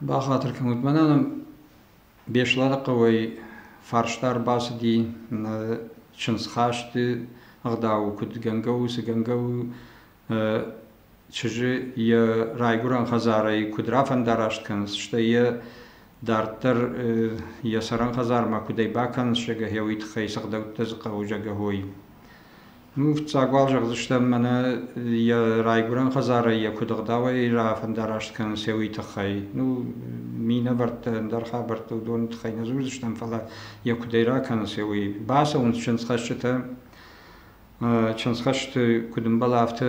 Бахатыр кӕнут, мӕнӕ Беслӕны хъӕуӕй фарста ӕрбацыди нӕ чындзхасты ӕгъдауы, куыд гӕнгӕ у, цы гӕнгӕ у чызджы йӕ райгуырӕн хӕдзарӕй куыд рафӕндараст кӕнынц, стӕй йӕ дарддӕр йӕ цӕрӕн хӕдзармӕ куыдӕй бакӕнынц, зӕгӕ, гъе уый тыххӕй сыгъдӕуттӕ дзы хъӕуы, зӕгӕ, уой. Ну, фыццаг уал зӕгъдзыстӕм мӕнӕ йӕ райгуырӕн хӕдзарӕй йӕ куыд ӕгъдауӕй рафӕндараст кӕнынц, уый тыххӕй. Ну, минӕвӕрттӕ, ӕндӕр хабӕрттӕ уыдоны тыххӕй нӕ дзурдзыстӕм, фӕлӕ йӕ куыдӕй ракӕнынц, уый. Бацӕуынц чындзхӕсджытӕ, чындзхӕсты куыд ӕмбӕлы, афтӕ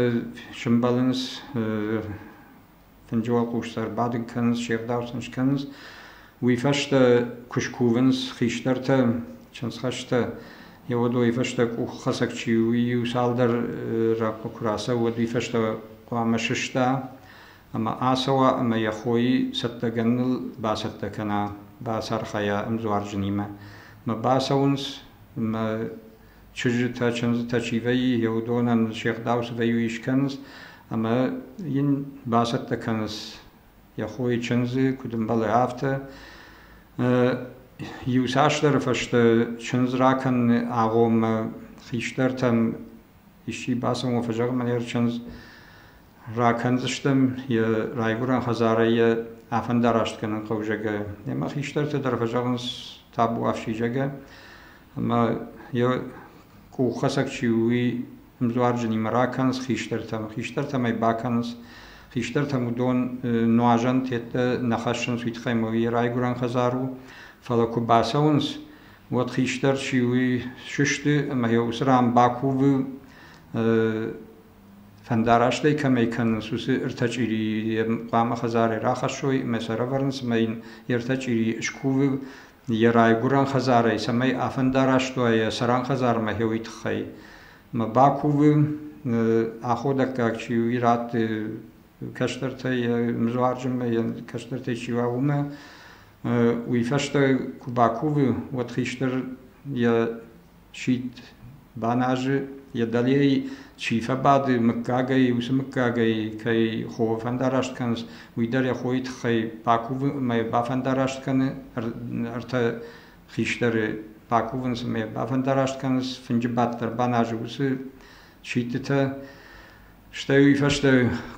сӕмбӕлынц Фынджы уӕлхъусты ӕрбадын кӕнынц, се рдау сын скӕнынц. Уый фӕстӕ куы скувынц хистӕртӕ, чындзхӕстӕ, йӕ уодои фӕстӕ къуххӕцӕг чи у, иу цалдӕр рӕхъхъы куы рацӕуӕд, уый фӕстӕ хъуамӕ сыста ӕмӕ ацӕуа ӕмӕ йӕ хойы цӕттӕгӕныныл бацӕттӕ кӕна, бацархайа ӕмдзуарджынимӕ. Мӕ бацӕуынц мӕ Чызджытӕ-чындзытӕ чи вӕййы, йӕ уыдонӕн се гъдауцыдӕй иу искӕнынц ӕмӕ йын бацӕттӕ кӕнынц йӕ хойы чындзы, куыд ӕмбӕлы, афтӕ. Иуцасдӕры фӕстӕ чындз ракӕныны агъоммӕ хистӕртӕм исчи бацӕуын куы фӕзӕгъы, мӕнер чындз Ракӕндзыстӕм йӕ райгуырӕн хӕдзарӕй йӕ афӕндарастгӕнӕн хъӕузӕгӕ. Йемӕ хистӕртӕ дӕр фӕзӕгъынц табуафсидзагӕ, ӕмӕ йӕ къуххӕцӕг чи у, уый ӕмдуарджынимӕ ракӕнынц хистӕртӕм, хистӕртӕм ӕй бакӕнынц. Хистӕртӕм уыдон нуазӕн тедтӕ нӕ хӕссынц уый тыххӕй, ӕмӕ уый йӕ райгуырӕн хӕдзар у. Фӕлӕ куы бацӕуынц, уӕд хистӕр чи у, уый сысты, ӕмӕ йӕ уыцы ран бакувы Фӕндарастӕй кӕмӕй кӕнынц, уыцы ӕртӕ чъирийы йӕм хъуамӕ хӕдзарӕй рахӕссой ӕмӕ сӕ рӕвӕрынц ӕмӕ йын йе ртӕ чъирийы скувы йӕ райгуырӕн хӕдзарӕй, цӕмӕй афӕндараст уа йӕ цӕрӕн хӕдзармӕ хеуый тыххӕй. Ӕмӕ бакувы, аходӕггаг чи у, ирӕтты кӕстӕртӕй, йӕ мызуарджынмӕ йӕ кӕстӕртӕй чи уа, уымӕ. Уый фӕстӕ куы бакувы, уӕд хистӕр йӕ Сидт баназы, йӕ дӕлейы чи фӕбады, мыггагӕй, уыцы мыггагӕй кӕй хо фӕндараст кӕнынц, уый дӕр йӕ хойы тыххӕй бакувы ӕмӕ бафӕндараст кӕны ӕртӕ хистӕры, бакувынц ӕмӕ бафӕндараст кӕнынц, фынджы бадт дӕр баназы уыцы сидтытӕ. Стӕй уый фӕстӕ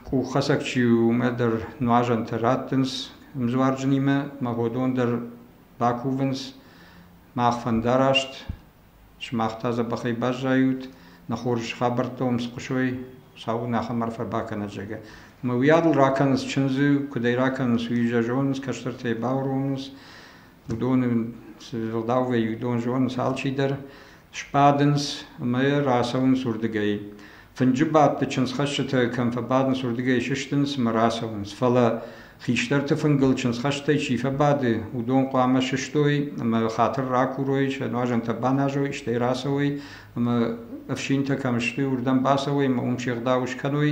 къуххӕцӕг чи у, уымӕ дӕр нуазӕнтӕ раттынц ӕмдзуарджынимӕ, ӕмӕ уыдон дӕр бакувынц мах фӕндараст, сымах та дзӕбӕхӕй баззайут, нӕ хорз хабӕрттӕ уын схъуысой, Сау нӕхӕм арфӕ бакӕнӕд, зӕгъгӕ. Ӕмӕ уый адыл ракӕнынц чындзы, куыд ӕй ракӕнынц, уый йӕ зонынц, кӕстӕртӕй бауромынц, уыдоны цы ӕгъдауӕй уыдон зонынц алчидӕр, Сбадынц ӕмӕ рацӕуынц уырдыгӕй. Фынджы бадты чындзхӕсджытӕ кӕм фӕбадынц, уырдыгӕй сыстынц ӕмӕ рацӕуынц. Фӕлӕ хистӕрты фынгыл чындзхӕстӕй чи фӕбады, уыдон хъуамӕ сыстой ӕмӕ хатыр ракурой, сӕ нуазӕнтӕ баназой, стӕй рацӕуой ӕмӕ ӕфсинтӕ кӕм сты, уырдӕм бацӕуой ӕмӕ уым се гъдау скӕной.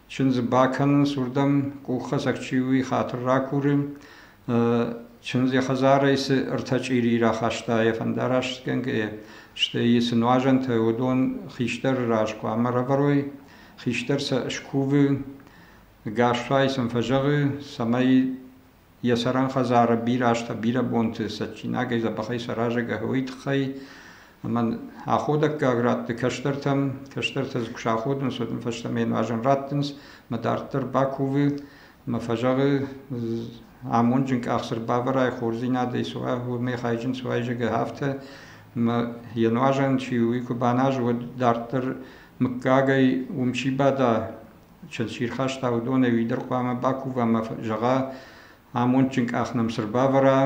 Чындзы бакӕнынц уырдӕм, къуххӕцӕг чи у, уый хатыр ракуры. Чындз йӕ хӕдзарӕй цы ӕртӕ чъири рахаста йӕ фӕндарасгӕнгӕйӕ, стӕй цы нуазӕнтӕ уыдон хистӕры раз хъуамӕ рӕвӕрой. Хистӕр сӕ скувы, Гасфай сын фӕзӕгъы, цӕмӕй Йӕ сӕрӕнхӕдзары бирӕ азтӕ бирӕ бонты цӕджсинагӕй дзӕбӕхӕй саразӕг ӕгъуый тыххӕй, ӕмӕ аходӕггаг рӕтты кӕстӕртӕм, кӕстӕртӕ куы саходынц, уӕд ын фӕстӕмӕ йӕ нуазӕн раттынц, мӕ дарддӕр бакувы мӕ фӕзӕгъы, амонджын къах цы рбавӕрай, хорздзинадӕй суай, уымӕй хайджын суай, зӕгъы, афтӕ мӕ йӕ нуазӕн чи у, уый куы баназы, уӕд дарддӕр мыггагӕй уым чи бада, Чызг чи рхаста, уыдонӕй уый дӕр хъуамӕ бакува ӕмӕ зӕгъа, амондджын къах нӕм цы рбавӕра,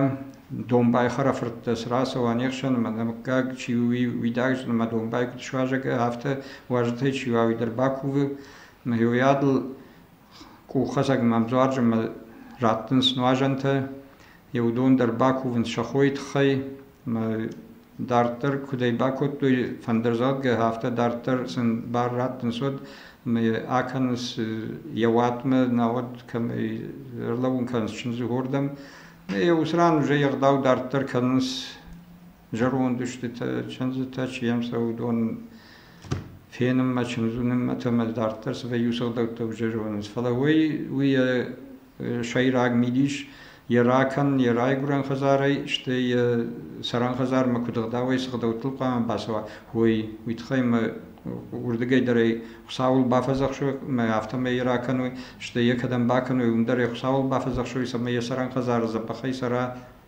домбай хӕрӕфырттӕ цы рацӕуа не хсӕн, ӕмӕ нӕ мыггаг чи у, уый уидаг зыны, ӕмӕ домбай куыд суазӕг, афтӕ уазджытӕй чи уа, уый дӕр бакувы. Ӕмӕ йӕ уыйадыл къуххӕцӕг мӕм дзуарджын ӕмӕ раттынц нуазӕнтӕ, еу дон дӕр бакувын сӕ хойы тыххӕй ӕмӕ дарддӕр куыд ӕй бакодтой фӕндырдзӕгъдгӕ, афтӕ дарддӕр сын бар раттынц уӕд ӕмӕ йӕ акӕнынц йӕ уатмӕ, науӕд кӕмӕй ӕрлӕууын кӕнынц чындзы уырдӕм. Ӕ уыцы ран уже егъдау дарддӕр кӕнынц зӕронд устытӕ, чындзытӕ чи йӕм цӕуы, уыдон фенынмӕ, чындзуынынмӕтӕм дарддӕр цавӕр иу сыгъдӕгтӕ уже зонынц. Фӕлӕ уый, уый йӕ сӕйраг мидис йӕ ракӕн йӕ райгуырӕн хӕдзарӕй, стӕй йӕ цӕрӕн хӕдзармӕ куыд ӕгъдауӕй сыгъдӕгтыл хъуамӕ бацӕуа, уый, уый тыххӕй мӕ уырдыгӕй дӕр ӕй Хуыцауыл бафӕдзӕхсой мӕ афтӕмӕй йӕ ракӕной, стӕй йӕ кӕдӕм бакӕной, уым дӕр йӕ Хуыцауыл бафӕдзӕхсой, цӕмӕй йӕ цӕрӕн хӕдзары дзӕбӕхӕй цӕра